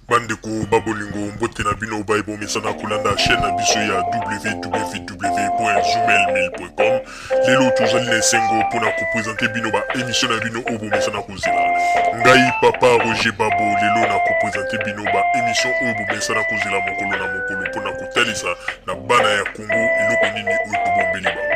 bandeko babolingo mbote na bino baye bomesana kolanda chaîne na biso ya www.zumelmil.com lelo tozali na esengo mpo na kopresente bino baemisio na bino oyo bomesana kozela ngai papa roger babo lelo na kopresente bino baemisio oyo bomesana kozela mokolo na mokolo mpo na kotalisa na bana ya kongo eloko nini oyo tobombeli bango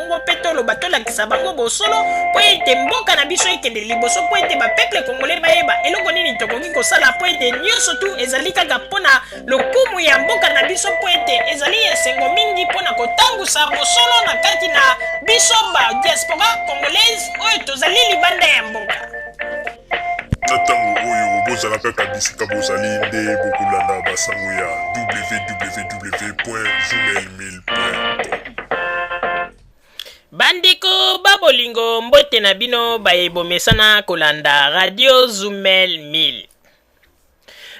Kongo mpe toloba tolakisa bango bosolo mpo ete mboka na biso ekende liboso mpo ete bapeple kongole bayeba eloko nini tokoki kosala mpo ete nyonso tu ezali kaka mpo na lokumu ya mboka na biso mpo ete ezali esengo mingi mpo na kotangusa bosolo na kati na biso ba diaspora congolaise oyo tozali libanda ya mboka na ntango oyo bozala kaka bisika bozali nde bokolanda basango ya www gmail bandeko babolingo mbote na bino baye bomesana kolanda radio zumel 1000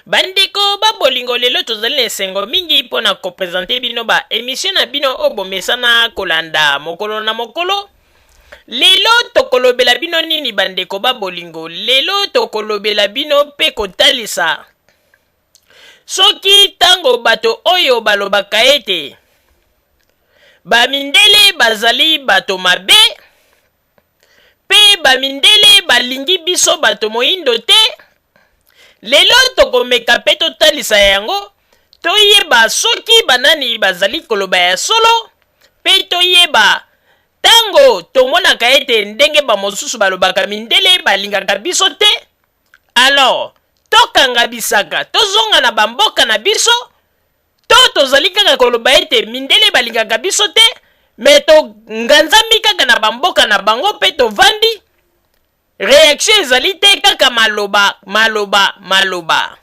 bandeko babolingo lelo tozali na esengo mingi mpo na kopresente bino ba emisio na bino oyo bomesana kolanda mokolo na mokolo lelo tokolobela bino nini bandeko babolingo lelo tokolobela bino mpe kotalisa Soki ntango bato oyo balobaka ete Bamindele bazali bato mabe mpe Bamindele balingi biso bato moindo te, lelo tokomeka mpe totalisa yango, toyeba soki banani bazali koloba ya solo mpe toyeba ntango tomonaka ete ndenge bamosusu balobaka Mindele balingaka biso te. Alors, tokanga bisaka, tozonga na ba mboka na biso, to tozali kaka koloba ete mindele balingaka biso te, mais tonganzami kaka na ba mboka na bango mpe tovandi, reaction ezali te, kaka maloba, maloba, maloba.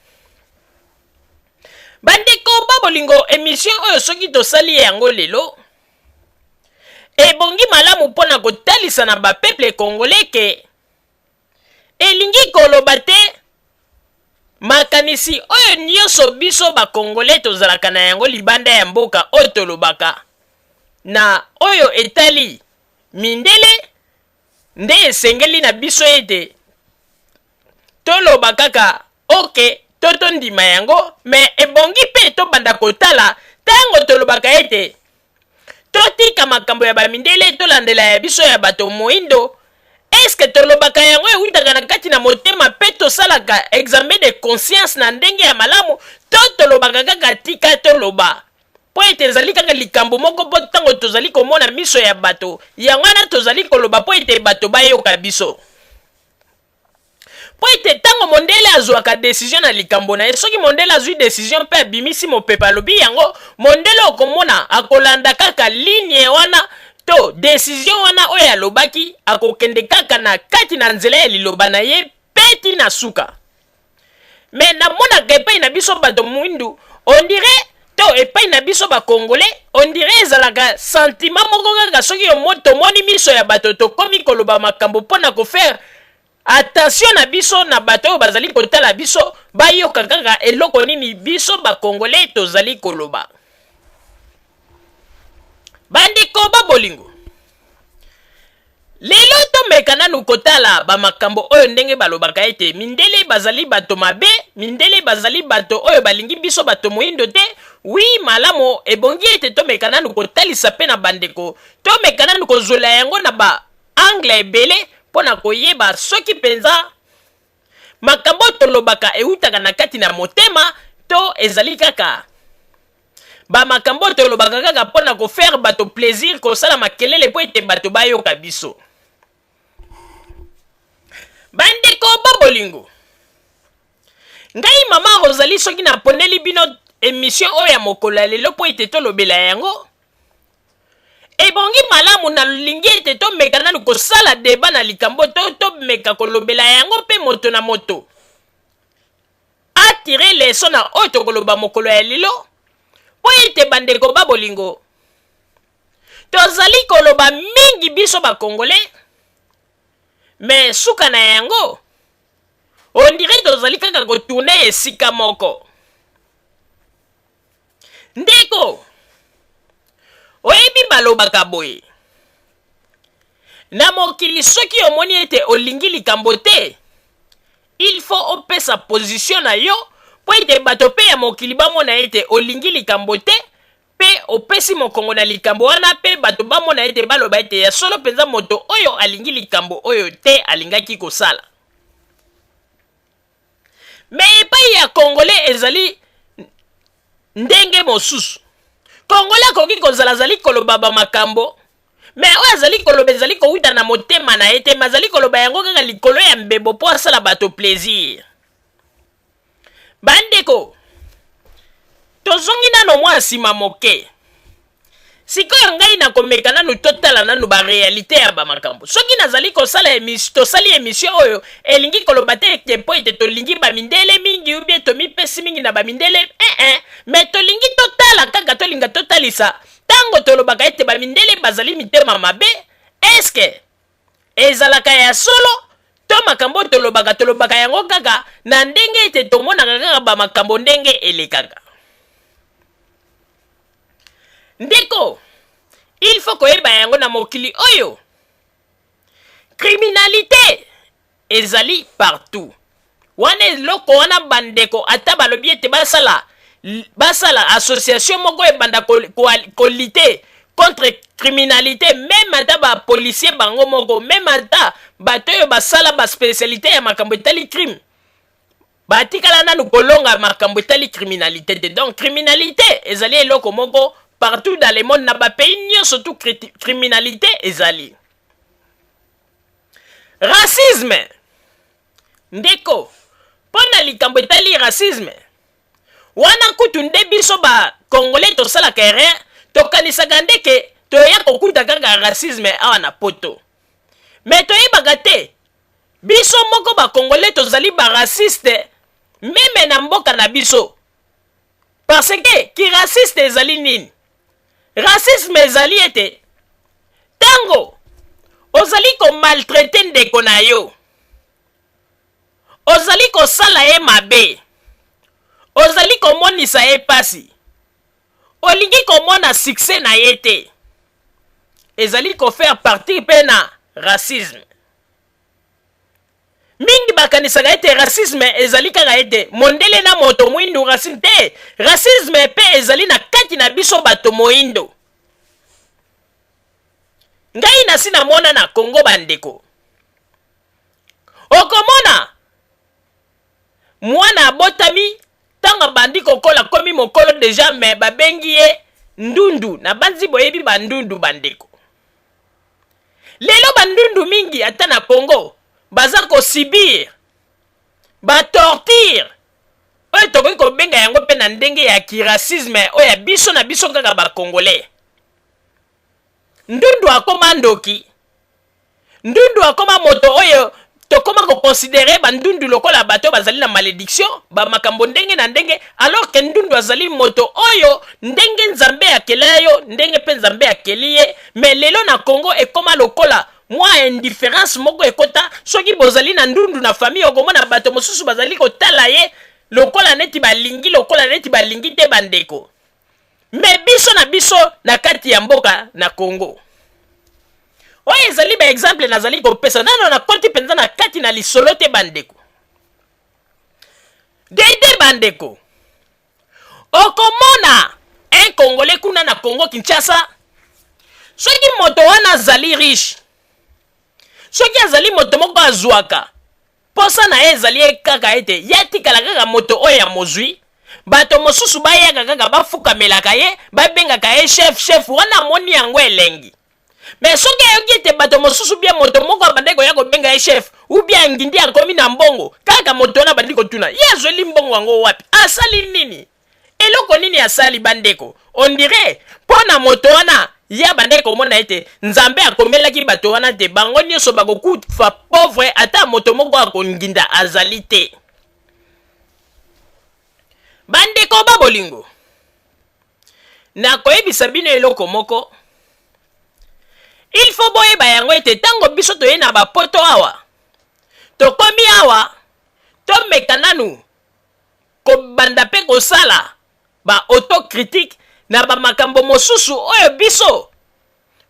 Bandeko ba bolingo, emission oyo soki tosali yango lelo, ebongi malamu mpo na kotalisa na ba peuples congolais que, Elingi koloba te makanisi oyo nyonso biso bakongole tozalaka na yango libanda ya mboka oyo tolobaka na oyo etali mindele nde esengeli na biso ete toloba kaka Ok, to tondima yango, mais ebongi mpe tobanda kotala tango tolobaka ete totika makambo ya ba mindele tolandela ya biso ya bato moindo, est-ce que tolobaka yango ewutaka na kati na motema mpe tosalaka examen de conscience na ndenge ya malamu to tolobaka kaka tika toloba mpo ete ezali kaka likambo moko mpo tango tozali komona miso ya bato yango wana tozali koloba mpo ete bato bayoka biso? mpo ete ntango mondele azwaka desizio na likambo na ye, soki mondele azwi desizio mpe abimisi mopepe alobi yango, mondele okomona akolanda kaka linie wana to desizio wana oyo alobaki, akokende kaka na kati na nzela ya liloba na ye mpe tii na suka. mais namonaka epai na biso bato mwindu ondire to epai na biso bakongole ondire ezalaka santima moko kaka soki yomo tomoni miso ya bato tokomi koloba makambo mpo na kofaire attention na biso na bato oyo bazali kotala biso bayoka kaka eloko nini biso bakongole tozali koloba bandeko ba bolingo Lelo tomeka nanu kotala ba makambo oyo ndenge balobaka ete mindele bazali bato mabe, mindele bazali bato oyo balingi biso bato moindo te, oui malamu ebongi ete tomeka nanu kotalisa pe na bandeko, tomeka nanu kozwela yango na ba angles ebele pona koyeba soki penza. makambo oyo tolobaka ewutaka na kati na motema to ezali kaka bamakambo oyo tolobaka kaka mpo na kofaire bato plaisir kosala makelele mpo ete bato bayoka biso bandeko bo bolingo ngai mama rozali soki naponeli bino emission oyo ya mokolo ya lelo mpo ete tolobela yango ebongi malamu nalingi ete tomeka nanu kosala deba na likambo to tomeka kolobela yango mpe moto na moto atire leso na oyo tokoloba mokolo ya lelo mpo ete bandeko ba bolingo tozali koloba mingi biso bakongole me suka na yango ondire tozali kaka kotourne esika moko Ndeko, oyebi balobaka boye, na mokili soki omoni ete olingi likambo te, il faut opesa position na yo mpo ete bato mpe ya mokili bamona ete olingi likambo te mpe opesi mokongo na likambo wana mpe bato bamona ete baloba ete ya solo mpenza moto oyo alingi likambo oyo te alingaki kosala. mais epai ya congolais ezali ndenge mosusu congolais akoki kozala azali koloba bamakambo me oyo azali koloba ezali kowuta na motema na ye te me azali koloba yango kaka likolo ya mbebo mpo asala bato plaisir bandeko tozongi nano mwa nsima moke sikoyo ngai nakomeka nanu totala nanu barealité ya bamakambo soki nazali kosala emis, tosali emisio oyo elingi koloba te ete mpo ete tolingi bamindele mingi ubie tomipesi mingi na bamindele ee eh, eh. me tolingi totala kaka tolinga totalisa ntango tolobaka ete bamindele bazali mitema mabe eske Ezalaka ya solo to makambo oyo tolobaka, tolobaka yango kaka na ndenge ete tomonaka kaka ba makambo ndenge elekaka. Ndeko, il faut koyeba yango na mokili oyo criminalite Ezali partout. Wana eloko wana bandeko ata balobi ete basala basala association moko ebanda ko, ko, ko lutter contre criminalité meme ata ba policier bango moko meme ata bato oyo basala ba spécialité ya makambo etali crime batikala nanu kolonga makambo etali criminalité te donc criminalité ezali eloko moko partout dans le monde na bapays nyonso tu criminalité ezali racisme ndeko mpo na likambo etali racisme wana kutu nde biso ba congolais tosalaka erreur tokanisaka nde ke toya kokuta kaka racisme awa na poto me toyebaka te biso moko ba congolais tozali ba raciste meme na mboka na biso parce que ki raciste ezali nini racisme ezali ete ntango ozali komaltraite ndeko na yo ozali kosala ye mabe ozali komonisa ye mpasi olingi komona succès na ye te ezali kofaire partie mpe na racisme mingi bakanisaka ete racisme ezali kaka ete mondele na moto mwindu racine te racisme mpe ezali na kati na biso bato moindo ngai nasi namona na kongo bandeko okomona mwana abotami ntango abandi kokola komi mokolo deja me babengi ye ndundu nabanzi boyebi bandundu bandeko lelo bandundu mingi ata na congo baza kosibir batortire oyo tokoki kobenga yango mpe na ndenge ya kiracisme oyo ya biso na biso kaka bacongolais ndundu akoma ndoki ndundu akoma moto oyo tokoma koconsidere bandundu lokola bato bazali na malediction bamakambo ndenge na ndenge alors ke ndundu azali moto oyo ndenge nzambe akela yo ndenge mpe nzambe akeli ye me lelo na congo ekoma lokola mwa indifference moko ekota soki bozali na ndundu na famille okomona bato mosusu bazali kotala ye lokola neti balingi lokola neti balingi te bandeko me biso na biso na kati ya mboka na Congo oyo ezali ba exemple nazali kopesa nano na koti mpenza na kati na lisolo te bandeko dede bandeko okomona un congolais kuna na congo kinshasa soki moto wana azali riche soki azali moto moko azwaka Mposa na ye ezali ye kaka ete ye atikala kaka moto oyo ya mozwi, bato mosusu bayaka kaka bafukamelaka ye, babengaka ye chef chef wana amoni yango elengi. Mais soki ayoki ete bato mosusu bien moto moko abandaki koya kobenga ye chef ou bien angindi akomi na mbongo, kaka moto wana abandi kotuna ye azweli mbongo yango wapi? Asali nini? eloko nini asali bandeko ondire mpo na moto wana ye abandaki komona ete nzambe akomelaki bato wana te bango nyonso bakokufa pauvre ata moto moko akonginda azali te bandeko ba bolingo nakoyebisa bino eloko moko il faut boyeba yango ete ntango biso toye na bapoto awa tokomi awa tomeka nanu kobanda mpe kosala ba autocritique na bamakambo mosusu oyo biso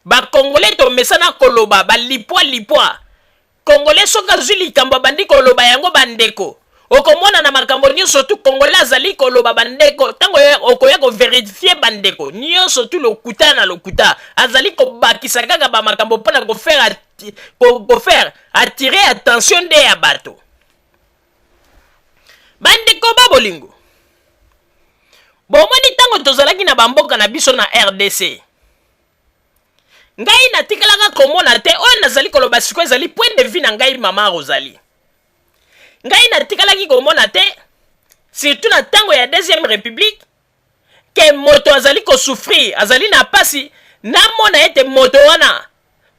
bakongole tomesana koloba balipwa lipwa kongole soki azwi likambo abandi koloba yango bandeko okomona na makambo nyonso tu kongole azali koloba bandeko ntango okoya koverifie bandeko nyonso tu lokuta na lokuta azali kobakisa kaka bamakambo mpo na kofaire kofaire attire attention nde ya bato bandeko ba bolingo bomoni ntango tozalaki na bamboka na biso na rdc ngai natikalaka komona te oyo nazali koloba siko ezali point de vue na ngai mama rosali ngai natikalaki komona te surtout na ntango ya deuxième république ke moto azali kosufrir azali na mpasi namona ete moto wana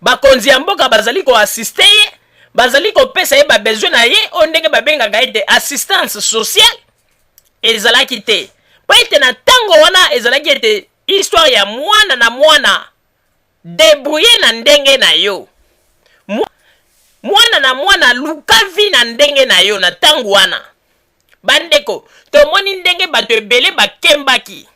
bakonzi ya mboka bazali koassiste ye bazali kopesa ye babesoin na ye oyo ndenge babengaka ete assistance sociale ezalaki te mpo ete na ntango wana ezalaki ete histoire ya mwana na mwana Debrouiller na ndenge na yo. Mwana na mwana luka vie na ndenge na yo na tango wana. Ba ndeko, tomoni ndenge batu ebele ba kembaki.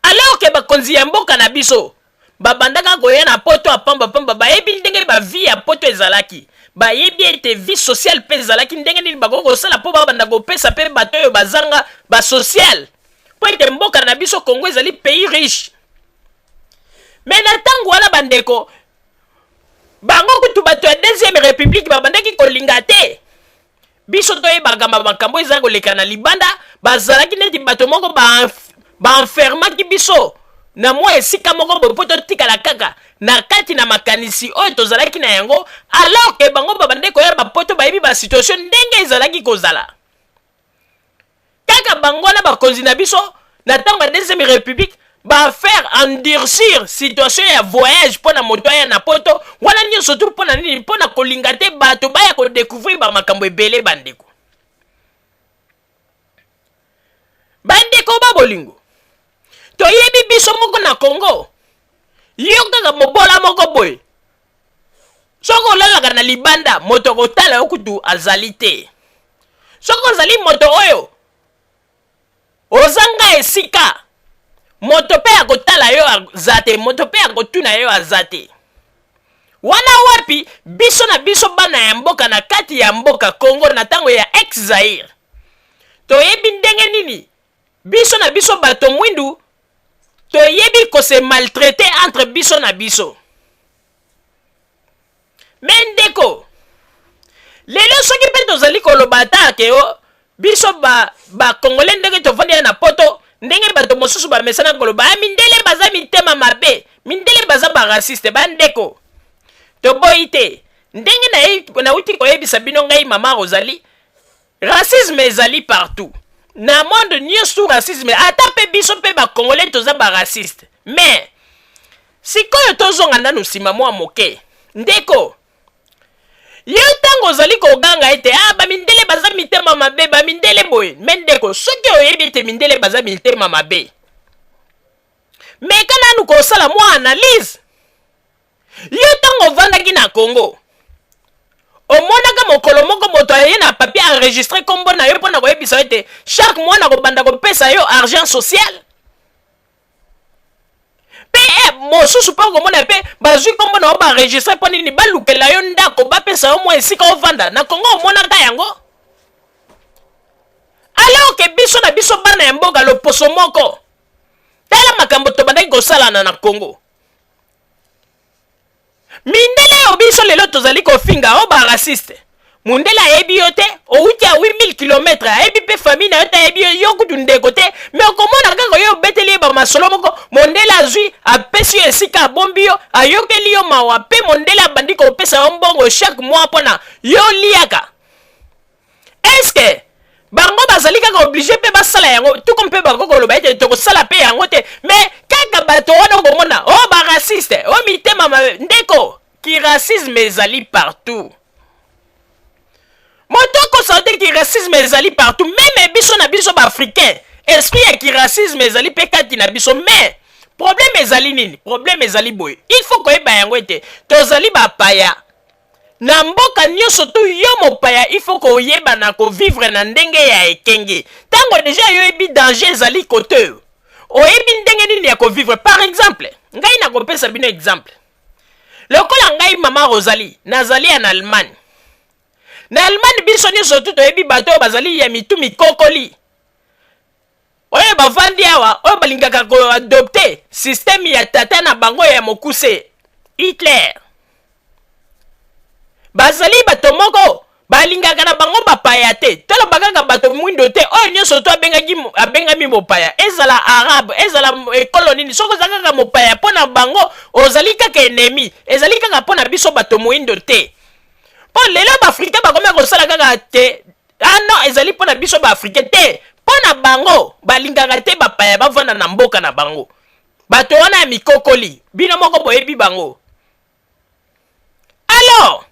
Alors que bakonzi ya mboka na biso, ba bandaka koya na poto ya pamba pamba, bayebi ndenge ba vie ya poto ezalaki. Bayebi ete vie sociale pe ezalaki, ndenge nini bakoki kosala po ba banda kopesa pe bato oyo bazanga ba sociale. mpo ete mboka na biso congo ezali pays riche me na ntango wana bandeko bango kutu bato ya deuxième république babandaki kolinga te biso toyebaka makambo ezali koleka na libanda bazalaki neti bato moko baenfermaki ba biso na mwa esika moko boye mpo totikala kaka na kati na makanisi oyo tozalaki na yango alors ke bango babandaki koya bapoto bayebi basituation ndenge ezalaki kozala kaka bango wana bakonzi na biso na ntango ya deuxième république bafaire endurcir situation ya voyage mpo na moto aya na poto wana nyonso tu mpo na nini mpo na kolinga te bato baya kodécouvrir bamakambo ebele bandeko bandeko ba bolingo toyebi biso moko na congo yo kaka mobola moko boye soki olalaka na libanda moto akotala yo kutu azali te soki ozali moto oyo ozanga esika moto mpe akotala yo aza te moto mpe akotuna yo aza te wana wapi biso na biso bana ya mboka na kati ya mboka congo na ntango ya ex zaire toyebi ndenge nini biso na biso bato mwindu toyebi kose maltraite entre biso na biso me ndeko lelo soki mpe tozali koloba ata ke o biso bakongole ba ndenge tovandi ya na poto ndenge bato mosusu bamesana koloba ya ah, mindele baza mitema mabe mindele baza barasiste bandeko toboyi te ndenge nauti koyebisa bino ngai mama ozali Racisme ezali partout. Na monde nyoso racisme ata mpe biso mpe ba congolais toza ba raciste. Mais sikoyo tozonga nanu nsima mwa moke. Ndeko yo ntango ozali koganga ete ah bamindele baza mitema mabe bamindele boye me ndeko soki oyebi ete mindele baza mitema mabe meka nanu kosala mwa analyse Yo ntango ovandaki na Congo, omonaka mokolo moko moto aye na papier enregistre nkombo na yo mpo na koyebisa yo ete chaque mois nakobanda kopesa yo argent social? mpe eh, mosusu mpe okomona mpe bazwi nkombo na yo baenregistre mpo nini balukela yo ndako bapesa yo mwa esika ovanda na kongo omonaka yango alors ke biso na biso bana ya mboka loposo moko tala makambo tobandaki kosalana na kongo mindele oyo biso lelo tozali kofinga o oh, ba raciste mundele ayebi yo te owuti a 8000 km ayebi mpe famille na yo te ayebi yo yo kutu ndeko te me okomona kaka yo obeteli ye bamasolo moko mondele azwi apesi yo esika abombi yo ayokeli yo mawa mpe mondele abandi kopesa yo mbongo chaque mois mpona yo liaka eske bango bazali kaka oblige mpe basala yango tuku mpe bango koloba ete tokosala mpe yango te me kaka bato wana okomona o oh, baraciste o oh, mitema ndeko kiracisme ezali partout moto akosala te kiracisme ezali partout meme biso na biso baafricain esprit ya kiracisme ezali mpe kati na biso mais problème ezali nini problème ezali boye il faut koyeba yango ete tozali bapaya na mboka nyoso tu yo mopaya il faut koyeba na ko vivre na ndenge ya ekenge tango deja yo yebi danger ezali kote oyebi ndenge nini ya ko vivre par exemple ngai na kopesa bino exemple lokola ngai mama Rosalie nazali en Allemagne na Allemagne biso nyoso tu toyebi bato oyo bazali ya mitu mikokoli oyo bavandi awa oyo balingaka koadopte systeme ya tata na bango ya mokuse hitler bazali bato moko balingaka na bango bapaya te toloba kaka bato mwindo te oyo nyonso to abengaki abengami mopaya ezala arabe ezala ekolo nini soki oza kaka mopaya mpo na bango ozali kaka enemi ezali kaka mpo na biso bato moindo te mpo lelo baafrika bakomi kosala kaka te Ah non, ezali mpo na biso ba Africain te, mpo na bango balingaka te bapaya bavanda na mboka na bango. Bato wana ya mikokoli, bino moko boyebi bango. Alors,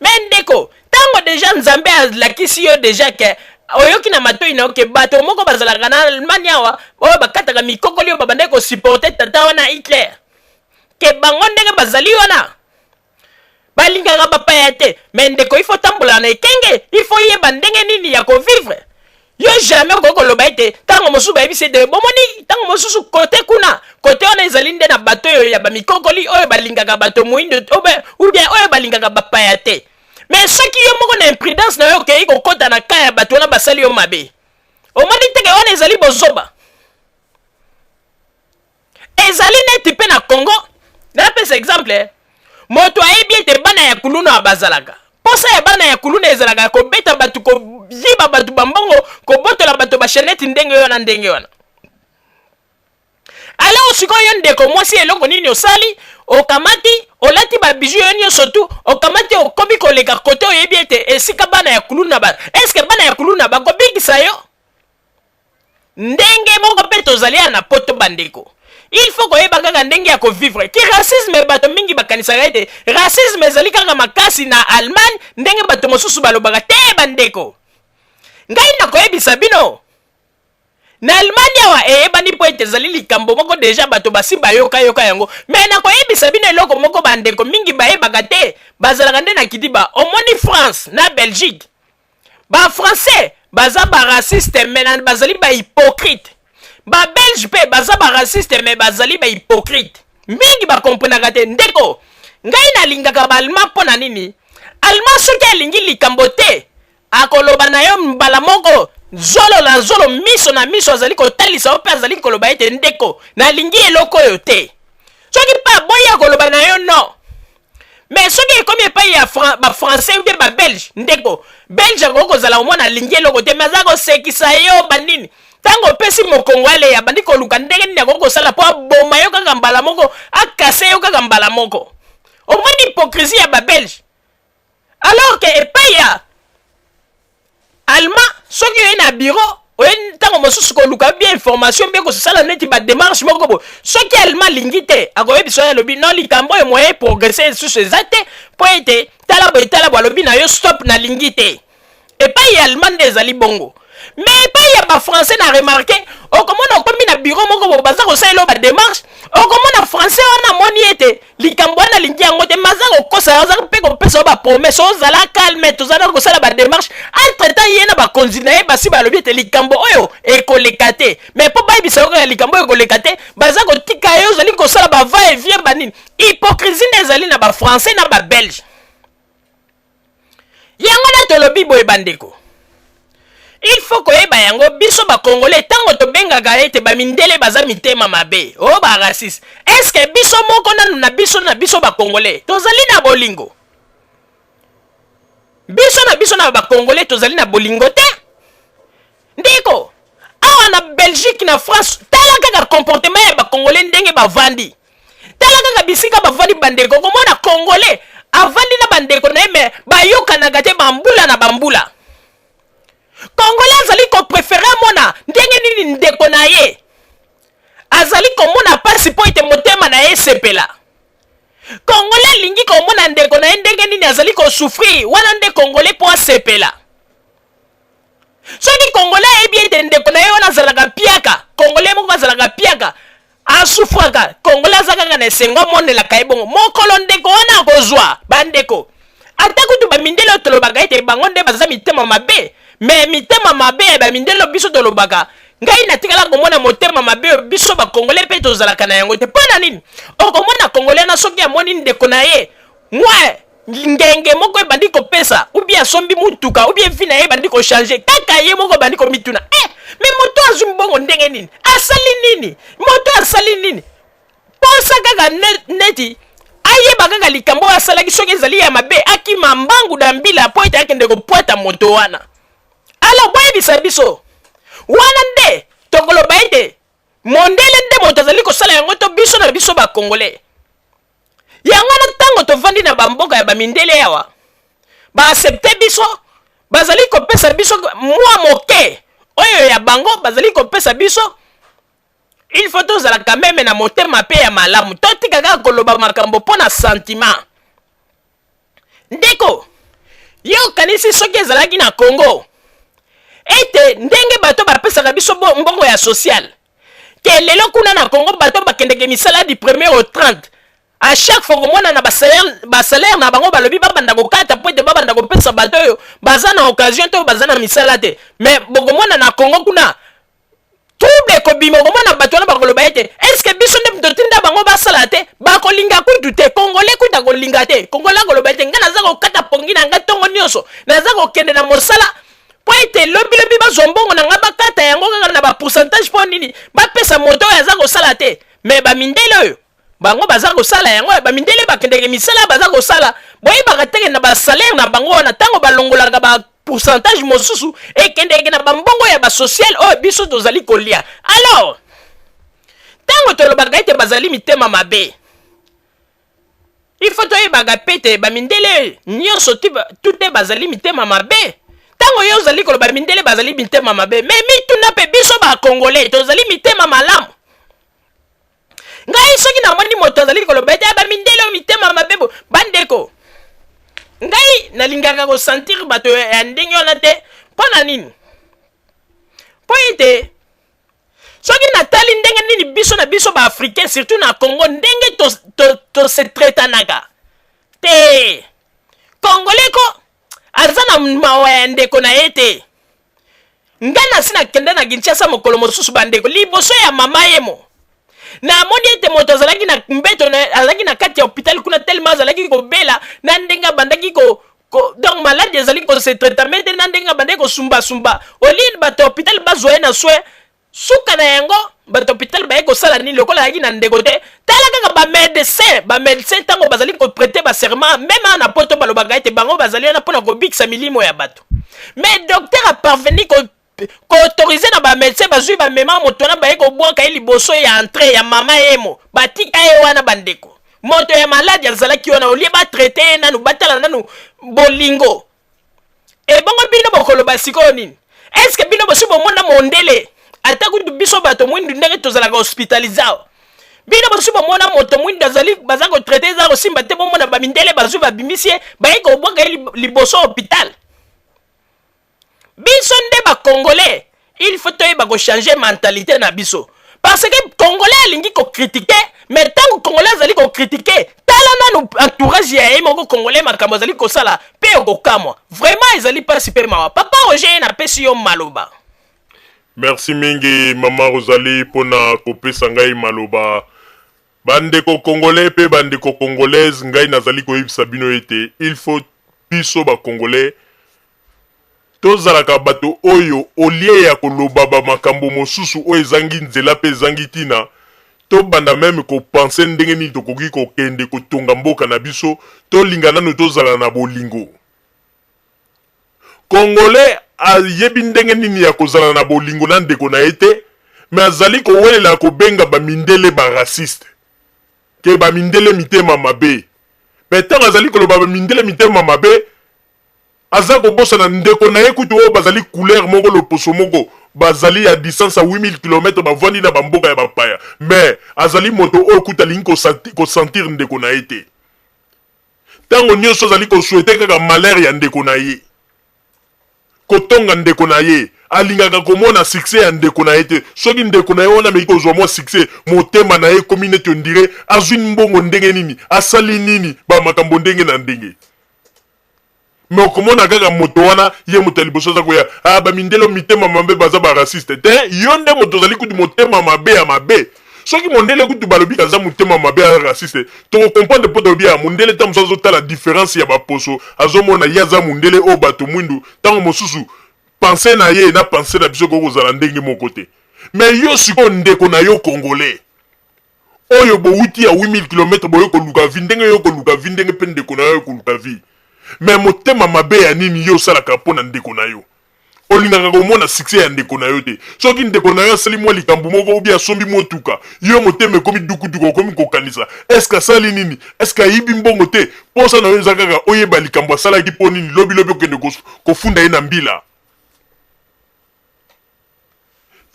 me ndeko, ntango deja Nzambe alakisi yo deja ke oyoki na matoi na yo ke bato moko bazalaka na Allemagne awa oyo bakataka mikokoli oyo babandaki kosupporte tata wana Hitler, ke bango ndenge bazali wana balingaka bapaya te me ndeko ifo tambola na ekenge ifo yeba ndenge nini ya kovivre yo jamais okoki koloba ete ntango mosusu bayebisi ete bomoni ntango mosusu kote kuna kote wana ezali nde na bato oyo ya bamikokoli oyo balingaka bato moindo ubien oyo balingaka bapaya te me soki yo moko na imprudence na yo okei kokota na ka ya bato wana basali yo mabe omoni teke wana ezali bozoba ezali neti mpe na congo napesa exemple eh. moto ayebi ete bana ya kuluna bazalaka mposa ya bana ya kuluna ezalaka ya kobeta bato koyiba bato bambongo kobotola bato basheneti ndenge wana ndenge wana alors sikoyo ndeko mwasi eloko nini osali okamati olati babiju yo nyonso tu okamati okomi koleka kote oyebi ete esika bana ya kuluna ba eske bana ya kuluna bakobikisa yo ndenge moko mpe tozali ya na poto bandeko il faut koyeba kaka ndenge ya kovivre ki racisme bato mingi bakanisaka ete racisme ezali kaka makasi na allemagne ndenge bato mosusu balobaka te bandeko ngai nakoyebisa bino na allemagne awa eyebani mpo ete ezali likambo moko deja bato basi bayokayoka yango me nakoyebisa bino eloko moko bandeko mingi bayebaka te bazalaka nde na kidiba omoni france na belgique ba français baza ba raciste mais na bazali ba hypocrite ba belge pe baza ba raciste mais bazali ba hypocrite mingi ba comprenaka te ndeko ngai nalingaka ba allemand mpo na nini allemand soki alingi likambo te akoloba na yo mbala moko zolo na zolo miso na miso azali kotalisa yo mpe azali koloba ete ndeko nalingi eloko oyo te soki mpe aboyi akoloba na yo no mais soki ekomi epai ya Fran ba français mpe ba belge ndeko belge akoki kozala omwana alingi eloko te mais aza kosekisa yo banini ntango opesi mokongo aleya bandi koluka ndenge nini akoki kosala mpo aboma yo kaka mbala moko akase yo kaka mbala moko omoni hypocrisie ya ba belge alors que epai ya allemand soki oye na bureau oye ntango mosusu koluka bie information mpe kosala neti bademarche moko bo soki allemand alingi te akoyebisa oyo alobi no likambo oyo moye progrese lisusu eza te mpo ete tala boye tala bo alobi na yo stop nalingi te epai ya allemand nde ezali bongo me epai ya bafrançais na remarke okomona okomi na biro moko bo baza kosalela yo bademarche okomona français wana amoni ete likambo wana alingi yango te maza kokosa aza mpe kopesa yo bapromese ozala calme toza na kosala bademarche entre temps ye na bakonzi na ye basi balobi ete likambo oyo ekoleka te mais mpo bayebisa yo kaka likambo oyo ekoleka te baza kotika ye ozali kosala bava evie banini hypocrisie nde ezali na bafrançais na babelge yango nde tolobi boye bandeko il faut koyeba yango biso bakongole ntango tobengaka ete bamindele baza mitema mabe o oh, baraciste eske biso moko nanu na biso na biso bakongole tozali na bolingo biso na biso na bakongole tozali na bolingo te ndeko awa na belgique na france tala kaka comportement ya bacongolais ndenge bavandi tala kaka bisika bavandi bandeko okomona congolais avandi na bandeko na ye me bayokanaka te bambula na bambula congolais azali koprefere amona ndenge nini ndeko na ye azali komona mpasi mpo ete motema na ye esepela kongole alingi komona ndeko na ye ndenge nini azali kosufrire wana nde kongole mpo asepela soki congolais ayebi ete ndeko na ye wana azalaka piaka congolais moko azalaka piaka asufraka congolais aza kaka na esengo amonelaka ye bongo mokolo ndeko wana akozwa bandeko ata kutu bamindele oyo tolobaka ete bango nde baza mitema mabe me mitema mabe ya bamindele oyo biso tolobaka ngai natikala komona motema mabe oyo biso bakongole mpe tozalaka na yango te mpo na nini okomona kongole na soki amoni ndeko na ye mwa ngenge moko ebandi kopesa ubie asombi motuka ubie vi na ye ebandi kochange kaka ye moko ebandi komituna e eh, me moto azwi mbongo ndenge nini asali nini moto asali nini posa kaka neti ayeba kaka likambo oyo asalaki soki ezali ya mabe akima mbangu na mbila mpo ete akende kopwata moto wana alors boyebisa biso wana nde tokoloba ete mondele nde moto azali kosala yango to biso na biso bakongole yango wana ntango tovandi na bamboka ya bamindele awa baasepte biso bazali kopesa biso mwa moke oyo ya bango bazali kopesa biso il faut tozalaka meme na motema mpe ya malamu totika kaka koloba makambo mpo na sentiment Ndeko, yo okanisi soki ezalaki na Congo ete ndenge bato bapesaka biso mbongo ya social te lelo kuna na Congo bato bakendeke misala du premier au 30 a chaque fois komona na basalaire na bango balobi babanda kokata mpo ete babanda kopesa bato oyo baza na occasion to baza na misala te mais bokomona na Congo kuna trouble ekobima okomona bato wana bakoloba ete eske biso nde totinda bango basala te bakolinga kutu te kongole kutu akolinga te kongole akoloba ete ngai naza kokata pongi na ngai ntongo nyonso naza kokende na mosala mpo ete lobilobi bazwa mbongo na ngai bakata yango kaka na bapourcentage mpo nini bapesa moto oyo aza kosala te me bamindele oyo bango baza kosala yango ya bamindele bakendeke misala baza kosala boyebaka teke na basalaire na bango wana ntango balongolaka ba pourcentage mosusu ekendeke na bambongo ya basociale oyo biso tozali kolia alors ntango tolobaka ete bazali mitema mabe ifo toyebaka mpe te bamindele nyonso tute bazali mitema mabe ntango yo ozali koloba mindele bazali mitema mabe me mituna mpe biso bakongole tozali mitema malamu ngai soki namoni moto azali koloba ete aba mindele oyo mitema mabe bo bandeko ngai nalingaka kosentir bato ya ndenge wana te mpo na nini mpo ete soki natali ndenge nini biso na biso baafricain surtout na congo ndenge tosetretanaka to, to te kongole ko aza na mawa ya ndeko na ye te ngai nasi nakende na kinshasa mokolo mosusu bandeko liboso ya mama yemo namoni ete moto azalaki na mbeto azalaki na kati ya hôpital kuna telema azalaki kobela na ndenge abandaki ko, ko donc maladi ezali kosetretame te na ndenge abandaki kosumbasumba olie bato ya hôpital bazwa ye na soin suka na yango bato ya hôpital baye kosala nini lokola ayaki na ndeko te tala kaka bamedecin bamedecin ntango bazali koprete baserment meme awa na poto balobaka ete bango bazali wana mpo na kobikisa milimo ya bato mais docteur aparveni koautorize na bamedecin bazwi bamema moto wana baye kobwaka ye liboso ya entre ya mama yemo batika ye wana bandeko moto ya maladi azalaki wana olie batraite ye nanu batala nanu bolingo ebongo bino bokoloba sikoyo nini eske bino bosi bomona mondele ata kutu biso bato mwindu ndenge tozalaka hospitalize awa bino bosi bomona moto mwindu azali baza kotraite eza kosimba te bomona bamindele bazwi babimisi ye baye kobwaka ye liboso hopital biso nde bakongole il faut toyeba kochange mentalite na biso parce que congolais alingi kokritike mais ntango congolais azali kokritike tala nanu entourage ya ye moko congolais makambo azali kosala mpe okokamwa vraiment ezali mpasi mpe mawa papa roger ye napesi yo maloba merci mingi mama rozali mpo na kopesa ngai maloba bandeko congolais mpe bandeko congolaise ngai nazali koyebisa bino ete il faut biso bacongolais Tozalaka bato oyo, au lieu ya koloba ba makambo mosusu oyo ezangi nzela mpe ezangi tina, tobanda meme ko penser ndenge nini tokoki kokende kotonga mboka na biso, tolinga nanu tozala na bolingo. Congolais ayebi ndenge nini ya kozala na bolingo na ndeko na ye te, mais azali kowelela kobenga ba mindele ba racistes, que ba mindele mitema mabe. Mais tango azali koloba ba mindele mitema mabe, Aza kobosana ndeko naye kutu oyo bazali couleur moko loposo moko bazali à distance ya 8000 kilomètre bavandi na ba mboka ya bapaya mais azali moto oyo kutu alingi ko sentir ndeko naye te tango nioso azali ko souhaiter kaka malheur ya ndeko naye kotonga ndeko naye alingaka komona succès ya ndeko naye te soki ndeko naye wana ameki kozua mua succès motema naye ekomi neti on dirait azui mbongo ndenge nini asali nini ba makambo ndenge na ndenge. me okomona kaka moto wana ye moto ya liboso aza koya ah, bamindele mitema mabe baza barasiste te yo nde moto ozali kutu motema mabe ya mabe soki mondele kutu balobi aza motema mabe ya raciste tokokomprendre mpo tolobi ya mondele ntango mosusu azotala diference ya baposo azomona ye aza mondele oyo bato mwindu ntango mosusu pense na ye na pense na biso ekoki kozala ndenge moko te me yo sikoyo ndeko na yo congolais oyo bowuti ya 8000 kilomètre boye koluka vie ndenge yo koluka vie ndenge pe ndeko na yo koluka vie mais motema mabe ya nini yo osalaka mpo na ndeko na yo olingaka komona succès ya ndeko na yo te soki ndeko na yo asali mwa likambo moko obi asombi motuka yo motema ekomi dukuduku okomi kokanisa eske asali nini eske ayibi mbongo te mposa na yo eza kaka oyeba likambo asalaki mpo nini lobilobi okende kofunda ye na mbila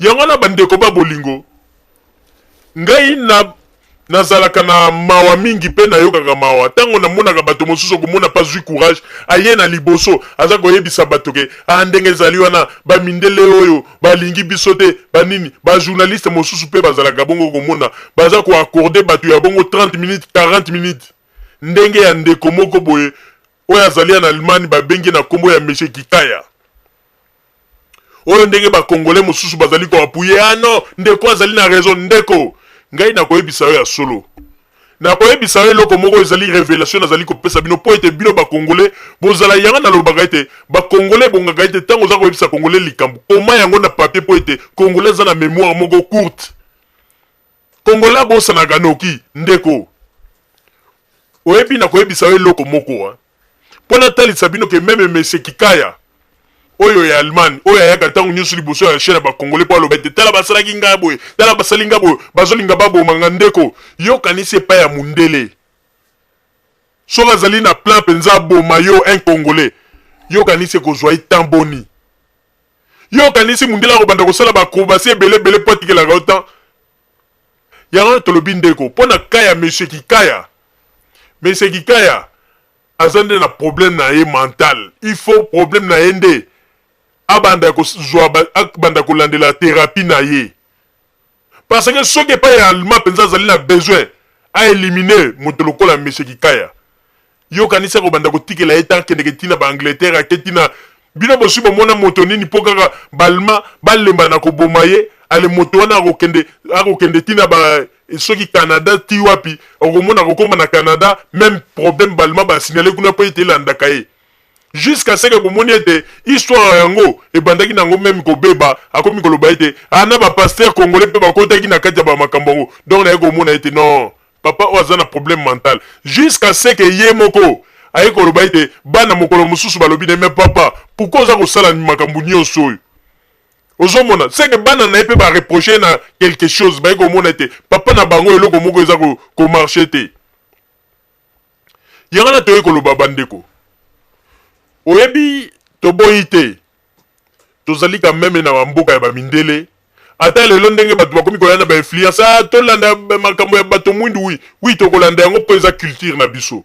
Yango wana bandeko ba bolingo, ngai na nazalaka na mawa mingi mpe nayokaka mawa ntango namonaka bato mosusu okomona mpe azwi courage aye na liboso aza koyebisa bato ke a ah, ndenge ezali wana bamindele oyo balingi biso te banini bajournaliste mosusu mpe bazalaka bongo komona baza koaccorde bato ya bongo 30 minutes 40 minutes ndenge ya ndeko moko boye oyo azali en Allemagne babengi na kombo ya Monsieur Kikaya oyo ndenge bakongole mosusu bazali koapuye ah non ndeko azali na raison ndeko ngai nakoyebisa yo ya solo nakoyebisa yo eloko moko ezali revelation nazali kopesa bino mpo ete bino bakongole bozala yango nalobaka ete bakongole ebongaka ete ntango oza koyebisa kongole likambo koma yango na papier mpo ete kongole aza na memoire moko courte Congolais abosanaka noki ndeko. Oyebi na koyebisa yo eloko moko hein? Mpo natalisa bino ke meme Monsieur Kikaya oyo ya Allemagne oyo ayaka ntango nyonso liboso ya chaine ya bakongole mpo aloba ete tala basalaki ngai boye tala basali ngai boye bazolinga baboma nga ndeko yo kanisi epai ya mundele soki azali na plan mpenza aboma yo un congolais yo kanisi ekozwa ye temps boni Yo okanisi mundele akobanda kosala ba acrobatie ebele ebele mpo atikelaka yo temps? Yango wana tolobi ndeko mpo na cas ya monsieur Kikaya, monsieur Kikaya aza nde na problème na ye mental, il faut problème na ye nde abanda kozua ba, abanda kolandela therapie na ye. Parce que soki epai ya Alma penza azali na besoin a eliminer moto lokola Monsieur Kikaya, yo okanisi akobanda kotikela ye temps akendeke ti na ba Angleterre, ake ti na. Bino bosi bomona moto nini mpo kaka ba Allemand balemba na koboma ye? Allez moto wana akokende, akokende ti na ba soki Canada ti wapi, okomona akokoma na Canada meme problème ba Allemand ba signaler kuna mpo ete elandaka ye. jusqu'à ce que bomoni ete histoire yango ebandaki na yango meme kobeba akomi koloba ete ah na ba pasteur congolais mpe bakotaki na kati ya ba makambo yango donc naye komona ete non papa oyo aza na problème mental jusqu'à ce que ye moko aye koloba ete bana mokolo mosusu balobi na mais papa pourquoi oza kosala makambo nyonso oyo ozomona seke bana na ye mpe bareproche na quelque chose baye komona ete papa na bango eloko moko eza komarche ko te Yango na toyei koloba bandeko, oyebi toboyi te tozali ka meme na mboka ya bamindele ata lelo ndenge bato bakomi koya na bainfluence a ah, tolanda makambo ya bato mwindu wi wi tokolanda yango mpo eza culture na biso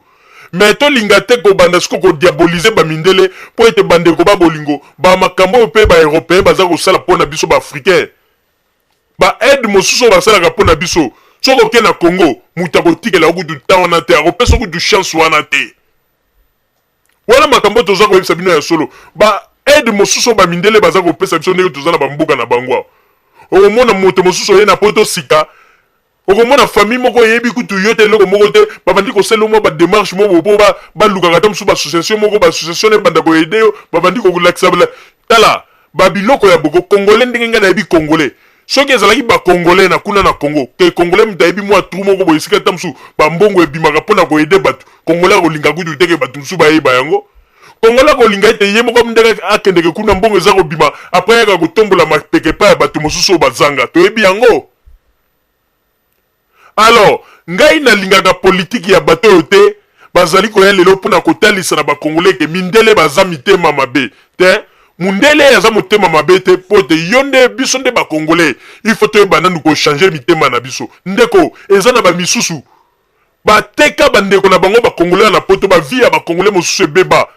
me tolinga te kobanda siko kodiabolize bamindele mpo ete bandeko ba bolingo bamakambo oyo mpe baeuropeen baza kosala mpo na biso baafricain ba aide mosusu oyo basalaka mpo na biso soki oke na congo moto akotikela kutu ntan wana te akopesa kutu chance wana te wana makambo oyo toza koyebisa bino ya solo ba aide mosusu oyo bamindele baza kopesa biso ndenge toza na bamboka na bango awa okomona moto mosusu oye na poto sika okomona famille moko eyebi kutu yo te eloko moko te babandi kosala mwa bademarche moko mpo balukaka ata mosusu baassociation moko baassociation na ebanda koyede yo babandi kolakisa tala babiloko ya boko congolais ndenge ngai nayebi congolais soki ezalaki bacongolais na kuna na congo ke congolais moto ayebi mwa tru moko boye esika ata mosusu bambongo ebimaka mpo na koyede bato congolais akolinga kutu teke bato mosusu bayeba yango congolais akolinga ete ye moko ndenge akendeke kuna mbongo eza kobima apres yaka kotombola mapeke epai ya bato mosusu oyo bazanga toyebi yango Alors, ngai nalingaka politique ya bato oyo te, bazali koya lelo mpo na kotalisa na ba congolais que mindele baza mitema mabe tein, mundele aza motema mabe te mpo ete yo nde biso nde ba congolais il faut toyeba nanu ko changer mitema na biso ndeko, eza na ba misusu bateka ba ndeko na bango ba congolais wana na poto, ba vie ya ba congolais mosusu ebeba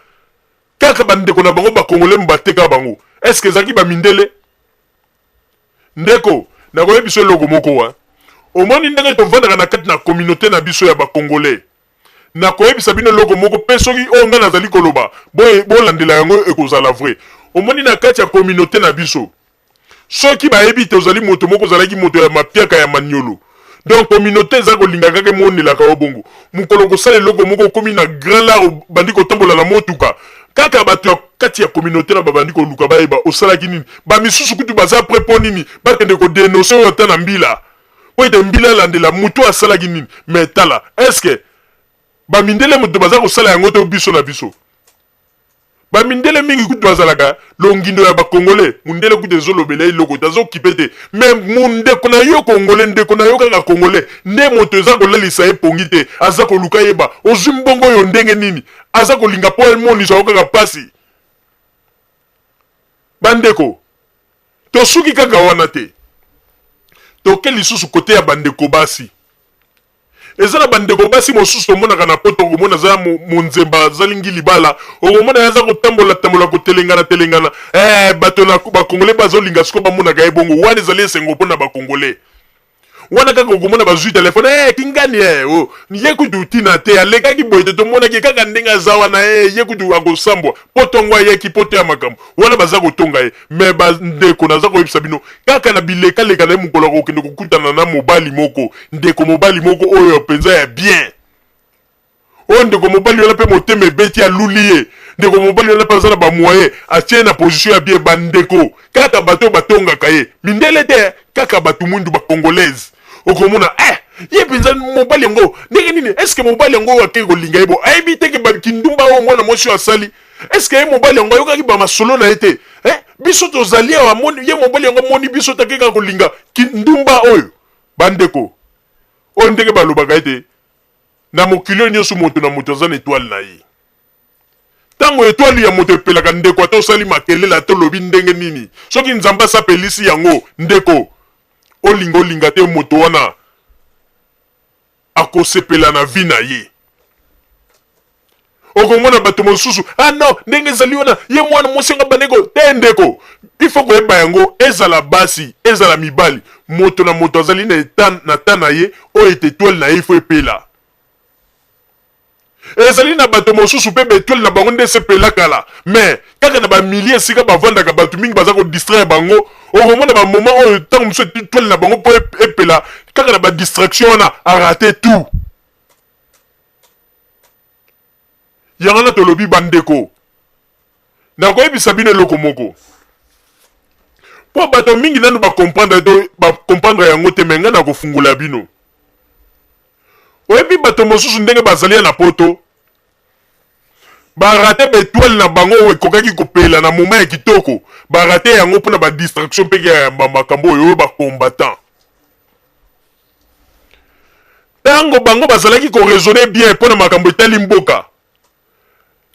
kaka ba ndeko na bango ba congolais bateka bango, est ce que ezalaki ba mindele? Ndeko, nakoyebisa eloko moko wa. Omoni ndenge tovandaka na kati na communaute na biso ya ba Congolais. Nakoyebisa bino eloko moko pe soki oyo ngai nazali koloba boye bolandela yango ekozala vrai. Omoni na kati ya communaute na biso soki bayebi te ozali moto moko ozalaki moto ya mapiaka ya maniolo, donc communauté eza kolinga kaka emonelaka yo bongo mokolo kosala eloko moko okomi na grand lar obandi kotambola na motuka kaka bato ya kati ya communauté na babandi koluka bayeba osalaki nini bamisusu kutu baza pre mpo nini bakende kodenonse oyo ata na mbila mpo ete mbila alandela moto asalaki nini me tala eske bamindele moto bazakosala yango to biso na biso Ba mindele mingi kutu bazalaka longindo ya ba congolais. Mundele kutu ezolobela ye eloko te, azokipe te. Mais mundeko na yo congolais, ndeko na yo kaka congolais nde moto eza kolalisa ye pongi te. Aza koluka ayeba ozwi mbongo oyo ndenge nini. Aza kolinga po emonisa yo kaka pasi. Ba ndeko, tosuki kaka wana te. Toke lisusu cote ya ba ndeko basi. Eza na ba ndeko basi mosusu tomonaka na poto okomona aza ya monzemba aza lingi libala okomona ye aza kotambola tambola kotelengana telengana eh bato na ba congolais bazo linga siko bamonaka ye bongo wana ezali esengo mpo na ba congolais wana kaka okomona bazwi telefone hey, eh, kingani hey, eh, oh. ye kutu tina te alekaki boye te tomonaki kaka ndenge aza wana hey, eh, ye kutu akosambwa poto yango ayaki poto ya makambo wana baza kotonga ye me bandeko naza koyebisa bino kaka na bilekaleka na ye mokolo akokende kokutana na mobali moko ndeko mobali moko oyo mpenza ya bien oyo ndeko mobali wana mpe motema ebeti aluli ye ndeko mobali wana mpe aza na bamoye atie na position ya bien bandeko kaka bato oyo batongaka ye mindele te kaka bato mwindu bacongolaise okomona eh ye mpenza mobali yango ndenge nini estce mobali yango oyo akei kolinga ye bo ayebi te ke kindumba oyo mwana mwasi oyo asali eske ye mobali yango ayokaki bamasolo na ye te eh? biso tozali awa moni ye mobali yango amoni biso take kaka kolinga kindumba oyo bandeko oyo ndenge balobaka ete na mokili oyo nyonso moto na moto aza na etwale na ye ntango etwale ya moto epelaka ndeko ata osali makelela ata olobi ndenge nini soki nzambe asapelisi yango ndeko olinga olinga te moto wana akosepela na vie na ye okomona bato mosusu ah non ndenge ezali wana ye mwana mwasi yango abandeko te ndeko ifo koyeba yango ezala basi ezala mibali moto na moto azali na eta na ta na ye oyo ete etwale na ye ifo epela Ezali na bato mosusu mpe b'etoiles na bango nde esepela kala mais kaka na ba milieu esika bavandaka bato mingi baza ko distraire bango okomona ba moment oyo tango mosusu etoile na bango mpo epela kaka na ba distraction wana a rate tout yango wana tolobi bandeko Nakoyebisa bino eloko moko. Mpo bato mingi nanu bakomprendre to bakomprendre yango te, me ngai nakofungola bino. Oyebi bato mosusu ndenge bazali ya na poto? barate betoile na bango oyo ekokaki kopela na moma ya kitoko barate yango mpo na badistraction mpe ya makambo oyo oyo bacombattant ntango bango bazalaki koraisonne bien mpo na makambo etali mboka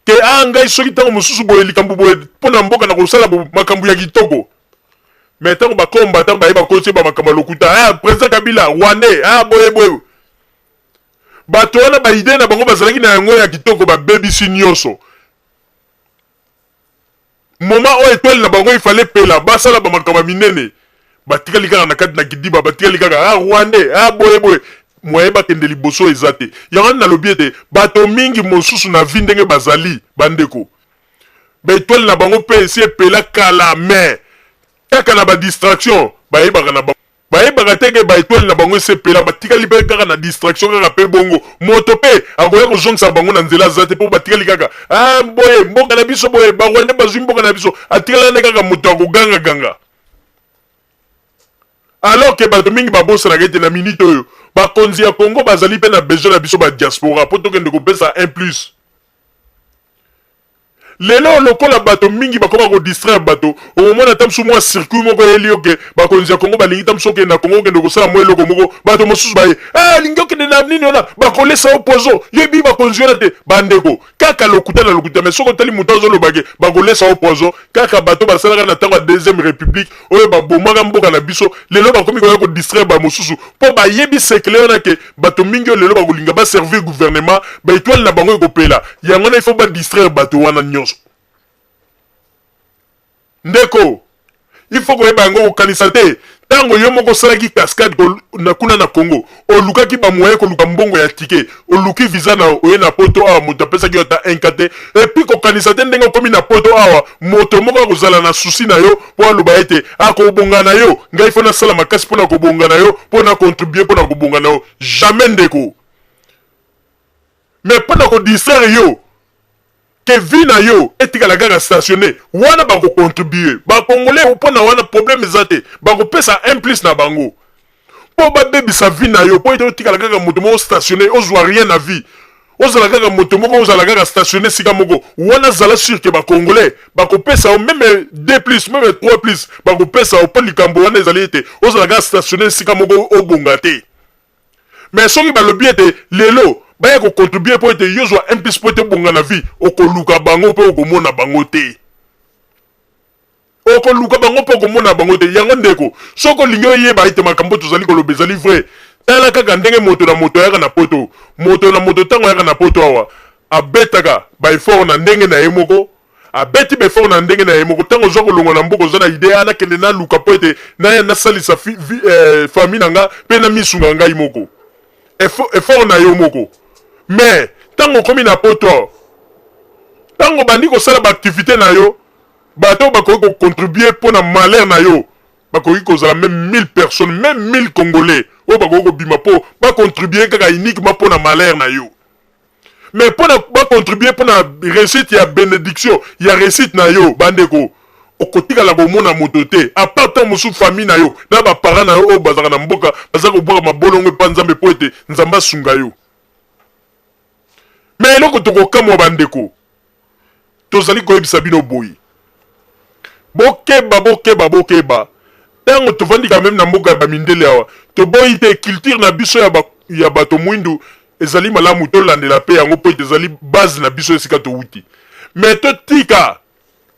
Te ah ngai soki tango mosusu boye likambo boye mpo na mboka na kosala makambo ya kitoko mais tango ba combattant baye bakosi ba makambo ya lokuta ah president Kabila rwandais ah boye boye bato wana ba idee na bango bazalaki na yango ya kitoko babebisi nyonso. moma oyo etwali na bango ifale pela basala ba makambo minene batikali kaka na kati na kidiba batikali kaka ah rwandais ah boye boye moye bakende liboso eza te yango wana nalobi ete bato mingi mosusu na vi ndenge bazali bandeko baetwale na bango mpe esi epela kala me kaka na badistraction bayebaka na bango bayebaka te ke baetoile na bango esepela batikali mpe kaka na distraction kaka mpe bongo moto mpe akoya kozongisa bango na nzela aza te mpo batikali kaka ah, boye mboka na biso boye barwande bazwi mboka na biso atikala nde kaka moto ya kogangaganga alors ke bato mingi babosanaka ete na minite oyo bakonzi ya congo bazali mpe na besoin na biso badiaspora mpo tokende kopesa un plus Lelo lokola bato mingi bakoma ko distraire bato, okomona ata mosusu mwa circuit moko eyeli yo ke bakonzi ya Congo balingi ata mosusu okende na Congo okende kosala mwa eloko moko, bato mosusu baye eh alingi okende na nini wana, bakolesa yo poison, yebi bakonzi wana te ba ndeko kaka lokuta na lokuta mais soki otali moto azoloba ke bakolesa yo poison kaka bato basalaka na tango ya deuxième republique oyo babomaka mboka na biso lelo bakomi koya ko distraire ba mosusu po bayebi secret wana ke bato mingi oyo lelo bakolinga ba servir gouvernement ba etoile na bango ekopela yango wana il faut ba distraire bato wana nyonso ndeko il faut koyeba yango kokanisa te ntango yo moko osalaki cascade na kuna na congo olukaki bamoye koluka mbongo ya tike oluki visa na oye na poto awa moto apesaki yo ata inka te epuis kokanisa te ndenge okomi na poto awa moto moko akozala na susi na yo mpo aloba ete akobonga na yo ngai fo nasala makasi mpo na kobonga na yo mpo na contribue mpo na kobonga na yo jamais ndeko mais mpo na kodistraire yo ke vi na yo etikala kaka stationne wana bakocontribue bakongole mpo na wana probleme eza te bakopesa un plus na bango mpo babebisa vie na yo mpo ete otikala kaka moto moko stationne ozwa rien na vie ozala kaka moto moko ozala kaka stationne esika moko wana zala sur ke bacongolais bakopesa yo meme de plus meme trois plus bakopesa yo mpo likambo wana ezali ete ozala kaka stationne esika moko obonga te mais soki balobi ete lelo baya kocontribue mpo ete yo ozwa un plus mpo ete obonga na vie okoluka bango mpe okomona bango te okoluka bango mpo okomona bango te. Yango ndeko, soki olingi oyeba ete makambo tozali koloba ezali vrai, tala kaka ndenge moto na moto ayaka na poto. Moto na moto ntango ayaka na poto awa, abetaka ba efforts na ndenge na ye moko, abeti ba efforts na ndenge na ye moko. Ntango ozwa kolongwa na mboka, oza na idee, ah, nakende naluka mpo ete naya nasalisa fi, vi, eh, famille na nga mpe namisunga ngai moko. Effort, effort na yo moko. Mais, ntango okomi na poto, ntango obandi kosala ba activites na yo, Bato oyo bakoki ko contribuer mpo na malheur na yo bakoki kozala meme 1000 personnes, meme 1000 congolais oyo bakoki kobima mpo ba contribuer kaka uniquement mpo na malheur na yo. Mais mpo na ba contribuer mpo na reussite ya benediction ya reussite na yo, bandeko, okotikala komona moto te à part ntango mosusu famille na yo na ba parents na yo oyo bazalaka na mboka baza kobwaka mabolongo epai ya Nzambe mpo ete Nzambe asunga yo. me eloko tokokamwa bandeko tozali koyebisa bino boye bokeba bokeba bokeba ntango tovandi ka meme na mboka ya bamindele awa toboyi te culture na biso ya, ba, ya bato mwindu ezali malamu tolandela mpe yango mpo ete ezali base na biso esika towuti me totika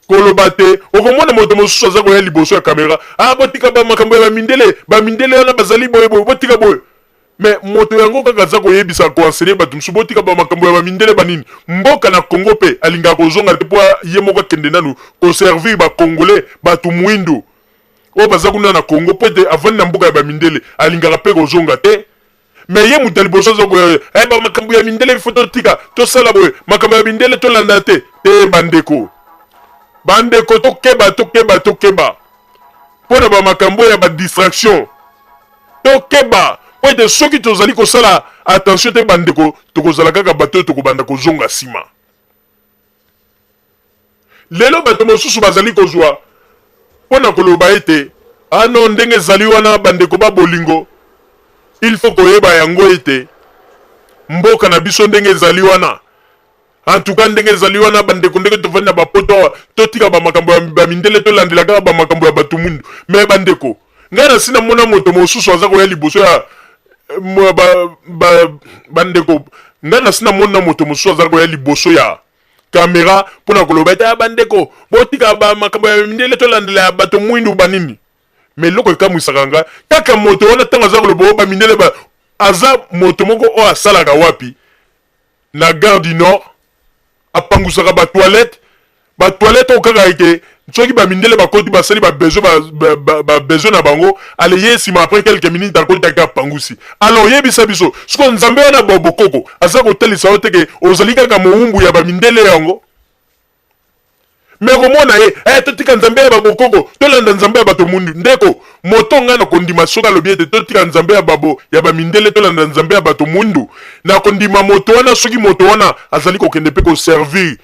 koloba te okomona moto mosusu aza koya liboso ya kamera ah botika ba makambo ya bamindele bamindele wana bazali boye boye botika boye Mais moto yango kaka aza koyebisa conseiller bato mosusu botika ba makambo ya ba mindele ba nini mboka na Congo pe alingaka kozonga te po ye moko akende nanu ko servir ba congolais bato muindu oyo baza kuna na Congo po ete avandi na mboka ya ba mindele alingaka pe kozonga te mais ye moto ya liboso aza ko eh ba makambo ya mindele il faut totika tosala boye makambo ya mindele tolanda te te bandeko bandeko tokeba tokeba tokeba mpo na ba makambo ya ba distraction tokeba mpo ete soki tozali kosala attention te bandeko tokozala kaka bato oyo tokobanda kozonga nsima lelo bato mosusu bazali kozwa mpo na koloba ete ano ah ndenge ezali wana bandeko ba bolingo il faut koyeba yango ete mboka na biso ndenge ezali wana En tout cas ndenge ezali wana bandeko ndenge tofandi na bapoto awa totika bamakambo ya bamindele tolandela kaka bamakambo ya bato mundu me bandeko ngai nasi namona moto mosusu aza koya liboso ya bandeko ngai nasi namona moto mosusu aza koya liboso ya kamera mpo na koloba ete ah, bandeko botika bamakambo ya mindele tolandela ya bato mwindu banini me eloko ekamwisaka ngai kaka moto wana ntango aza koloba oyo bamindele aza moto moko oyo asalaka wapi na gare du nord apangusaka ba toilette ba toilette oyo kaka ete soki bamindele bakoti basali babesoin ba, ba, ba, ba na bango ale ye nsima après quelques minutes akotaki apangusi alors yebisa biso siko nzambe wana bokoko aza kotalisa yo te ke ozali kaka mowumbu ya bamindele yango me komona ye eh, totika nzambe ya babokoko tolanda nzambe ya bato mundu ndeko moto ngai nakondima soki alobi ete totika nzambe ya babo ya bamindele tolanda nzambe ya bato mundu nakondima moto wana soki moto wana azali kokende mpe koservir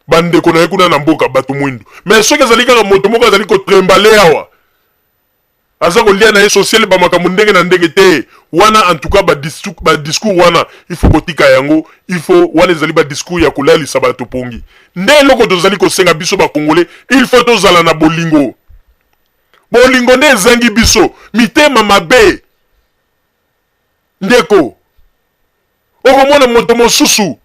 bandeko na ye kuna na mboka bato mwindu me soki ezali kaka moto moko azali kotrembale awa Aza kolia na ye sociale ba makambo ndenge na ndenge te wana en tout cas ba discours, ba discours wana il faut kotika yango il faut wana ezali ba discours ya kolalisa bato pongi nde eloko tozali kosenga biso ba congolais il faut tozala na bolingo bolingo nde ezangi biso mitema mabe ndeko okomona moto mosusu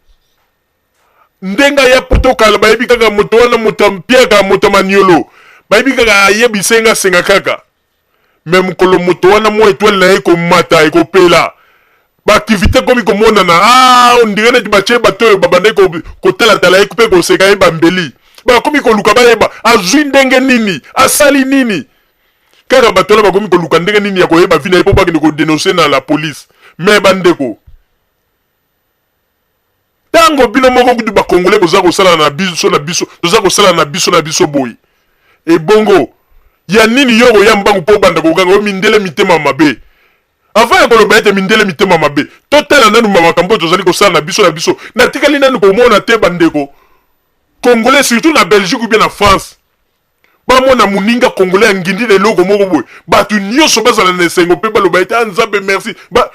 ndenga ya poto kala bayebi kaka moto wana moto ampiaka moto maniolo bayebi kaka ayebisa nga senga kaka me mokolo moto wana mwa etwale na ye ekomata ekopela baaktivité ekomi komonana ah, ondire neti batye bato oyo babandaki kotalatala ye mpe koseka ye bambeli bakomi koluka bayeba azwi ndenge nini asali nini kaka bato wana bakomi koluka ndenge nini ya koyeba vi na ye mpo bakende kodenonse na la police me bandeko Tango bino moko kutu ba congolais boza kosala na biso na biso toza kosala na biso na biso boye ebongo ya nini yo okoya mbangu mpo obanda koganga oyo mindele mitema mabe avant ya koloba ete mindele mitema mabe totala nanu makambo oyo tozali kosala na biso na biso natikali nanu komona te bandeko congolais surtout na belgique ou bien na france bamona moninga congolais ya ngindi na eloko moko boye bato nyonso bazala na esengo mpe baloba ete a ah, nzambe merci ba...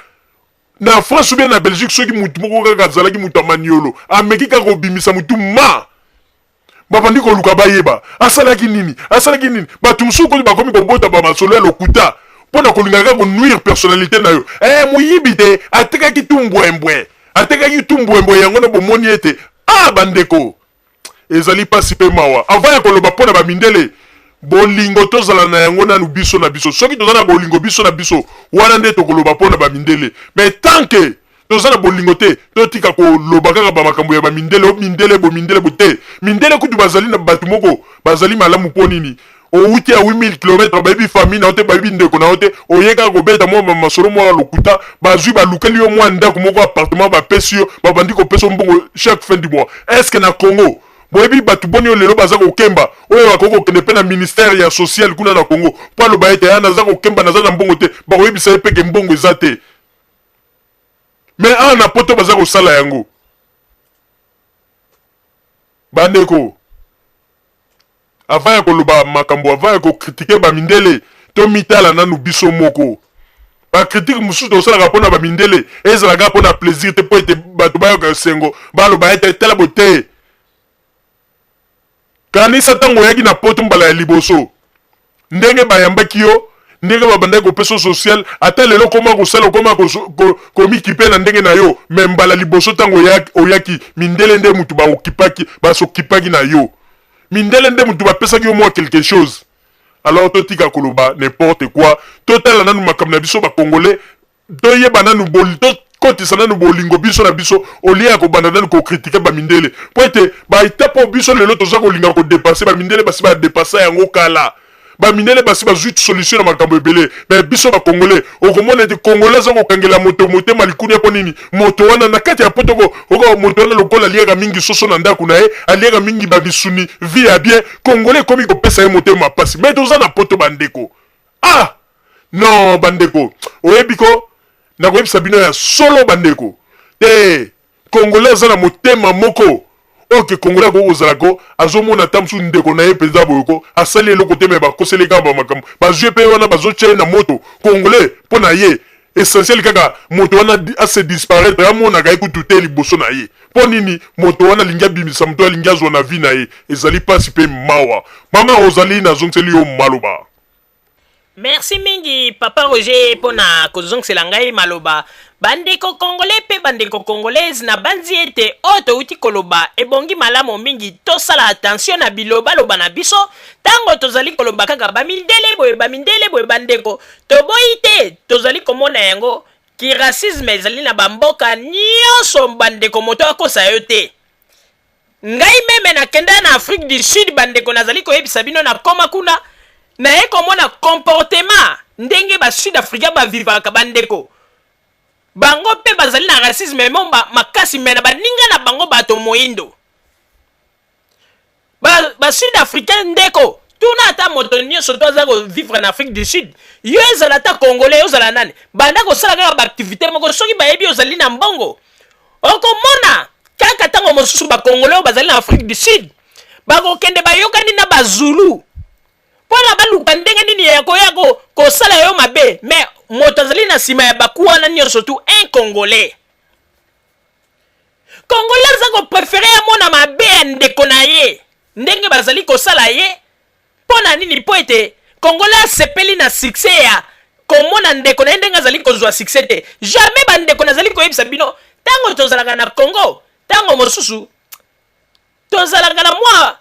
na France oubien na Belgique soki mutu moko kaka azalaki mutu ya maniolo ameki kaka kobimisa mutu ma babandi koluka bayeba asalaki nini asalaki nini bato mosusu koti bakomi kobota bamasolo ya lokuta mpo na kolinga kaka konuire personnalité na yo e moyibi te atekaki tu mbwembwe atekaki tu mbwembwe yango na bomoni ete a ah, bandeko Ezali pasi mpe mawa. Avant ya koloba mpo na ba mindele, bolingo tozala na yango nanu biso na biso. Soki toza na bolingo biso na biso, wana nde tokoloba mpo na ba mindele. Mais tant que toza na bolingo te, totika koloba kaka ba makambo ya ba mindele, oh mindele bo mindele bo te. Mindele kutu bazali na batu moko bazali malamu mpo nini? owuti ya 8000 km bayebi famille na yo te bayebi ndeko na yo te oye kaka kobeta mwa bamasolo mwa lokuta bazwi balukeli yo mwa ndako moko appartement bapesi yo babandi kopesa mbongo chaque fin du mois est ce que na congo boyebi bato boni oyo lelo baza kokemba oyo bakoki kokende mpe na ministère ya social kuna na congo mpo aloba ete ya naza kokemba naza na mbongo te bakoyebisa ye mpeke mbongo eza te me awa na poto baza kosala yango bandeko Avant ya koloba makambo avant ya ko critiquer ba mindele to mitala nanu biso moko. Ba critiques mosusu tosalaka pona ba mindele ezala kaka pona plaisir te po ete batu bayoka esengo baloba ete tala bo te Kanisa tango oyaki na poto mbala ya liboso ndenge bayambaki yo ndenge babandaki kopesa social ata lelo okoma kosala okoma komikipe na ndenge na yo me mbala liboso ntango oyaki mindele nde motu baokipaki basokipaki na yo mindele nde motu bapesaki yo mwa quelque chose alors totika koloba n'importe quoi totala nanu makambo na biso bakongole Toyeba nanu bol to kotisa nanu bolingo biso na biso olie ya kobanda nanu kokritike bamindele mpo ete baetape oyo biso lelo toza kolinga kodepase bamindele basi badepasa yango kala bamindele basi bazwi solution na makambo ebele me biso bakongole okomona ete kongole aza kokangela moto motema likunia mpo nini moto wana na kati ya potoko oka moto wana lokola aliaka mingi soso na ndako na ye aliaka mingi babisuni vi ya bien kongole ekomi kopesa ye motema mpasi me toza na poto bandeko Ah! Non, bandeko, oyebi ko, nakoyebisa bino ya solo bandeko. Te, Congolais aza na motema moko oyo ke Congolais akoki kozala ko azomona ata mosusu ndeko na ye mpenza boye ko asali eloko te me bakoseli kaka bamakambo bazwi mpe wana bazotya ye na moto Congolais mpo na ye essentiel kaka moto wana ase disparaître amonaka ye kutu te liboso na ye mpo nini moto wana alingi abimisa moto alingi azwa na vie na ye ezali mpasi mpe mawa mama ozali nazongiseli yo maloba Merci mingi papa Roger pona kozongisela ngai maloba. Bandeko congolais pe bandeko congolaise na banzi ete oyo towuti koloba ebongi malamu mingi tosala attention na biloba loba na biso tango tozali koloba kaka ba mindele boye ba mindele boye bandeko toboyi te tozali komona yango ki racisme ezali na ba mboka nionso bandeko moto akosa yo te. Ngai meme na kenda na Afrique du Sud bandeko nazali koyebisa bino na koma kuna naye komona comportement ndenge ba Sud Africain ba vivaka bandeko bango pe bazali na racisme memo makasi me na baninga na bango bato moindo ba, ba Sud Africain ndeko tuna ata moto nyonso to aza kovivre na Afrique du Sud yo ezala ata congolais ozala nani banda kosala kaka baaktivité moko soki bayebi ozali na mbongo okomona kaka ntango mosusu bakongole oyo bazali na afrique du sud bakokende bayokani na bazulu mpo na baluka ndenge nini ya koya kosala yo mabe me moto azali na nsima ya baku wana nyonso tu un congolais congolais aza koprefere amona mabe ya ndeko na ye ndenge bazali kosala ye Mpo na nini? Mpo ete Congolais asepeli na succès ya komona ndeko na ye ndenge azali kozwa succès te. Jamais bandeko nazali koyebisa bino ntango tozalaka na Congo, ntango mosusu tozalaka na mwa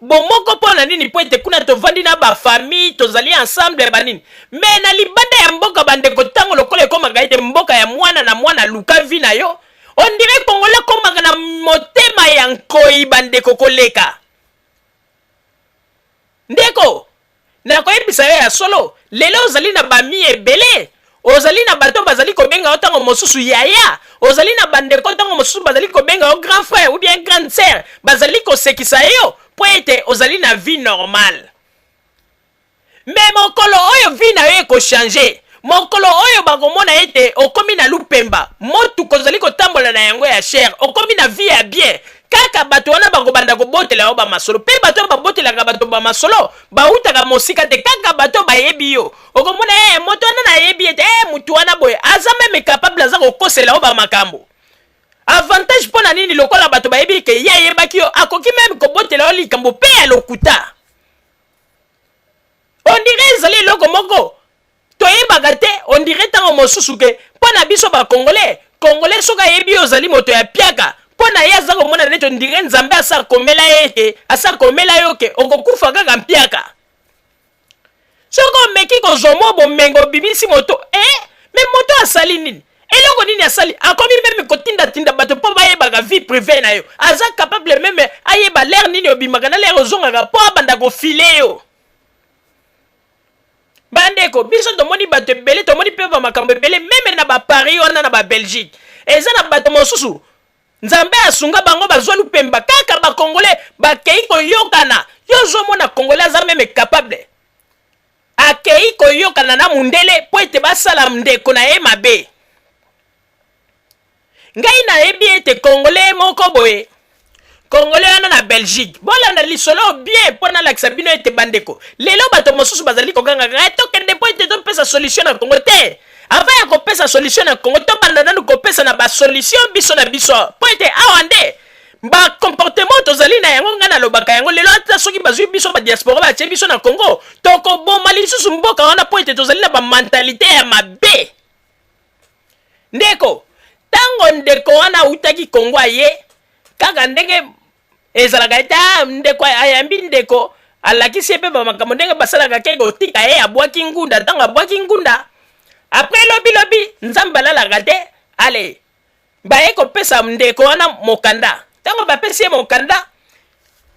bomoko mpo na nini? Mpo ete kuna tovandi na bafamille, tozali ensemble ya banini. Me na libanda ya mboka bandeko, ntango lokola ekomaka ete mboka ya mwana na mwana luka vi na yo, ondire Kongola akomaka na motema ya nkoi bandeko koleka Ndeko, nakoyebisa yo ya solo, lelo ozali na bami ebele, ozali na bato bazali kobenga yo ntango mosusu yaya, ozali na bandeko ntango mosusu bazali kobenga yo grand frère ou bien grande sœur, bazali kosekisa yo mpo ete ozali na vie normale. me mokolo oyo vi na yo ekochange mokolo oyo bakomona ete okomi na lupemba motuka ozali kotambola na yango ya shere okomi na vi ya bien kaka bato wana bakobanda kobotela yo bamasolo mpe bato oyo babotelaka bato bamasolo bautaka mosika te kaka bato oyo bayebi yo okomona ye eh, moto wana nayebi ete e eh, motu wana boye aza meme capable aza kokosela yo bamakambo avantage mpo na nini lokola bato bayebi ke ye ayebaki yo akoki meme kobotela yo likambo mpe ya lokuta ondire ezali eloko moko toyebaka te ondire ntango mosusu ke mpo na biso bakongole kongole soki ayebi ozali moto ya piaka mpo na ye aza komona neti ondire nzambe asi akomela ye ete asi akomela yo ke okokufa kaka mpiaka soki omeki kozwa mwa bomengo obimisi moto e eh, me moto asali nini eloko nini asali akomi meme kotindatinda bato mpo bayebaka vie prive na yo aza capable meme ayeba lere nini obimaka na lere ozongaka mpo abanda kofile yo bandeko biso tomoni bato ebele tomoni mpe bamakambo ebele meme na baparis wana na babelgique eza na bato mosusu nzambe asunga bango bazwa lupemba kaka bakongole bakei koyokana yo ozomona kongole aza meme capable akei koyokana na mundele mpo ete basala ndeko na ye mabe ngai nayebi ete congolais moko boye congolais wana na belgique bolanda lisolo bien mpo nalakisa bino ete bandeko lelo bato mosusu bazali kogangaka eh, tokende mpo ete topesa solution na congo te avant ya kopesa solution na congo tobanda nanu kopesa na basolution biso na biso mpo ete awa nde ba comportement tozali na yango ngai nalobaka yango lelo ata soki bazwi biso badiaspora batie biso na congo tokoboma lisusu mboka wana mpo ete tozali na bamentalité ya mabe ndeko ntango ndeko wana autaki congo aye kaka ndenge ezalaka ete ah, ndeko ayambi ndeko alakisi ye mpe bamakambo ndenge basalaka ke kotika ye abwaki ngunda ntango abwaki ngunda apres lobilobi nzambe alalaka te ale baye kopesa ndeko wana mokanda ntango bapesi ye mokanda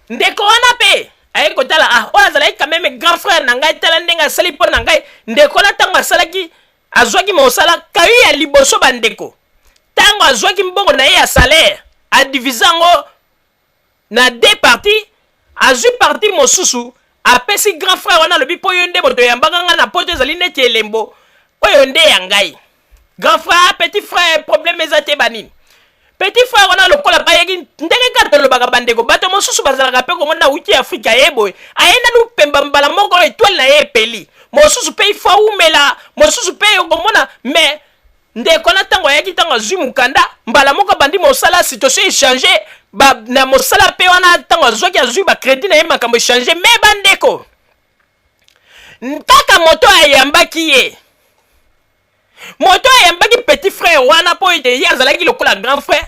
ndeko wana mpe aye kotala ah oyo azalaki kameme grand frère na ngai tala ndenge asali mpo na ngai ndeko wana ntango asalaki azwaki mosala kayi ya liboso bandeko ntango azwaki mbongo na ye ya salaire adivise yango na deux parties azui partie mosusu apesi grand frère wana alobi mpo yo nde moto oyambaka ngai na poto ezali neti elembo oyo nde ya ngai grand frère ah, petit frère problème eza te banini petit frère wana lokola bayeki ndenge kaka tolobaka bandeko bato mosusu bazalaka mpe komona wuti afrika ye boye aye nanu pemba mbala moko etwale na ye epeli mosusu mpe ifo awumela mosusu mpe okomona mais Ndeko wana ntango ayaki ntango azwi mokanda mbala moko abandi mosala situation echange na mosala mpe wana ntango azwaki azwi bacrédit na ye makambo echange me bandeko kaka moto ayambaki ye moto ayambaki petit frère wana mpo ete ye azalaki lokola grand frère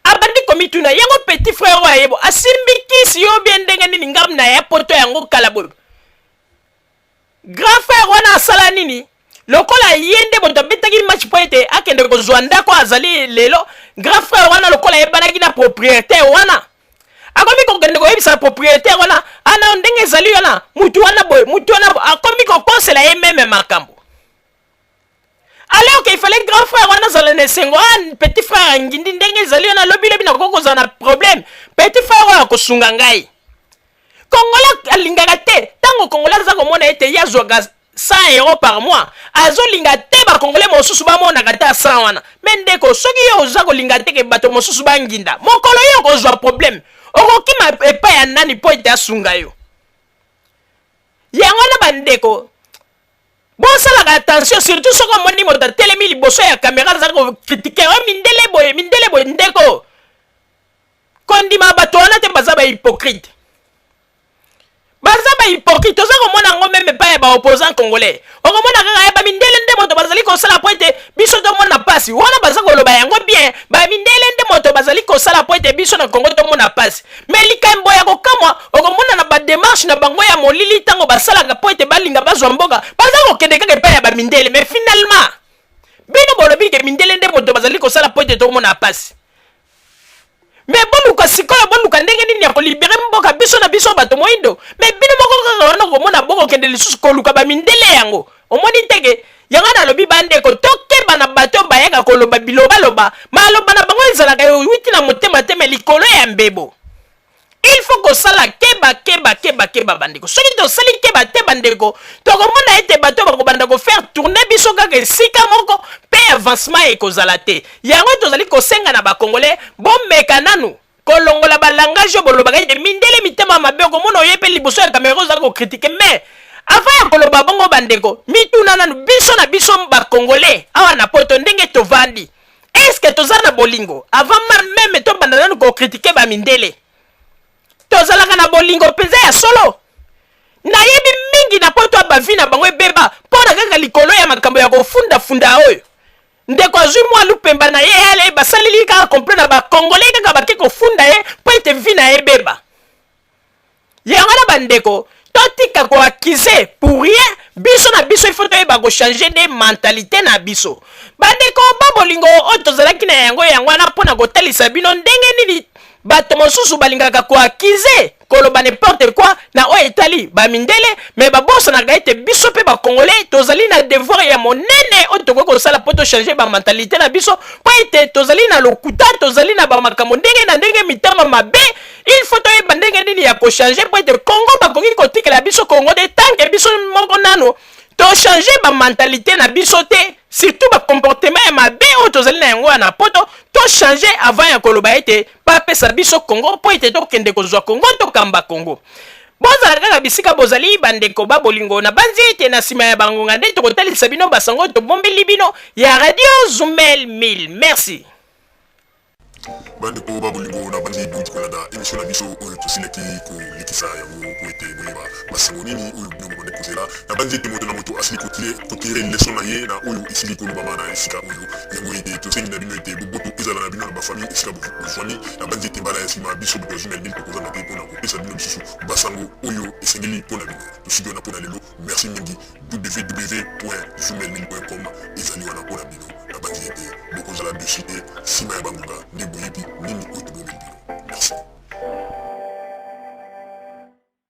abandi komituna yango petit frère oyo ayebo asimbi kisi yo bie ndenge nini ngambo na ya poto yango kala boye grand frère wana asala nini lokola ye nde moto abetaki match mpo ete akende kozwa ndako azali lelo grand frère wana lokola ayebanaki na propriétaire wana akomi kokende koyebisa propriétaire wana ana ndenge ezali wana motu wana boye motu wana akomi kokosela ye meme makambo alors qu'il fallait grand frère wana azala na esengo ah, petit frère ya ngindi ndenge ezali yo nalobi lobi nakoki kozala na problème petit frère oyo akosunga ngai kongola alingaka te ntango kongola aza komona ete ye azwaka 100 euro par mois azolinga te bakongole mosusu bamonaka ata 100 wana me ndeko soki yo oza kolinga te ke bato mosusu banginda mokolo yo okozwa problème okokima epai ya nani mpo ete asunga yo yango wana bandeko bosalaka attention surtout soki omoni moto atelemi liboso ya kamera azali kokritike o oh, mindele boye mindele boye ndeko kondima bato wana te baza bahypocrite baza bahypocrite oza komona yango meme epai ya baopposant congolais okomona kaka ya eh, bamindele nde moto bazali kosala po ete biso tomona mpasi wana baza koloba yango bien bamindele nde moto bazali kosala po ete biso na kongo tomona mpasi me likambo ya kokamwa okomona na bademarshe na bango ya molili ntango basalaka mpo ete balinga bazwa mboka baza kokende kaka epai ya bamindele me finalement bino bolobi ke mindele nde moto bazali kosala mpo ete tokomona mpasi me boluka sikoyo boluka ndenge nini ya kolibere mboka biso na biso bato moindo me bino moko kaka wana komona bokokende lisusu koluka bamindele yango omoni nteke yango nalobi bandeko tokeba na bato oyo bayaka koloba bilobaloba maloba na bango ezalaka euti na motema te me likolo ya mbebo il faut kosala keba keba keba keba bandeko soki tosali keba te bandeko tokomona ete bato bakobanda kofaire tourne biso kaka esika moko mpe avancement ekozala te yango tozali kosenga na bakongole bomeka nanu kolongola ba langage oyo bolobaka ete mindele mitema mabe okomona oye mpe liboso ya kamera ozali kokritike mais avant ya koloba bongo bandeko mituna nanu biso na biso bakongole awa na poto ndenge tovandi eske toza na bolingo avant meme tobanda nanu kokritike bamindele tozalaka na bolingo mpenza ya solo nayebi mingi na poto ya bavi na bango ebeba mpo na kaka likolo ya makambo ya kofundafunda oyo ndeko azwi mwa lupemba na ye ale basaleli kaka complo na bacongolais kaka bake kofunda ye mpo ete vi na ye ebeba yango na bandeko totika koakize pour rien biso na biso ifo toyeba kochange nde mentalite na biso bandeko ba bolingo oyo tozalaki na yango yango wana mpo na kotalisa bino ndenge nini bato mosusu balingaka koakize koloba n'importe quoi na oyo etali bamindele me babosanaka ete biso mpe bacongolais tozali na devoir ya monene oyo tokoki kosala mpo tochange bamentalité na biso mpo ete tozali na lokuta tozali na bamakambo ndenge na ndenge mitama mabe il faut toyeba ndenge nini ya kochange mpo ete congo bakoki kotikela biso congo te tanke biso moko nano tochange bamentalité na biso te surtout bacomportement ya mabe oyo tozali na yango ya na poto tochange avant ya koloba ete bapesa biso congo mpo ete tokende kozwa congo tokamba congo bozala kaka bisika bozali bandeko ba bolingo na banzi ete na nsima ya bangonga nde tokotalisa bino basango tobombeli bino ya radio zumel 1000 merci bandeko ba bolingo na banzi bonji kolanda emisio na biso oyo tosilaki kolekisa yango mpo ete boyeba Masolo nini oyo bino bobandi kozela? Nabanzi ete moto na moto asili kotire leso na ye na oyo esili kolobama na esika oyo. Yango ete tosengi na bino ete boboto ezala na bino na bafamille esika bozwami. Nabanzi ete mbala ya sima biso bato ya Zuma Elbil tokozanga te mpo na kopesa bino lisusu basango oyo esengeli mpo na bino. Tosiki wana mpo na lelo. Merci mingi. www.zumaelbil.com ezali wana mpo na bino. Nabanzi ete bokozala deçu te nsima ya bangonga nde boyebi nini oyo tobongeli bino. Merci.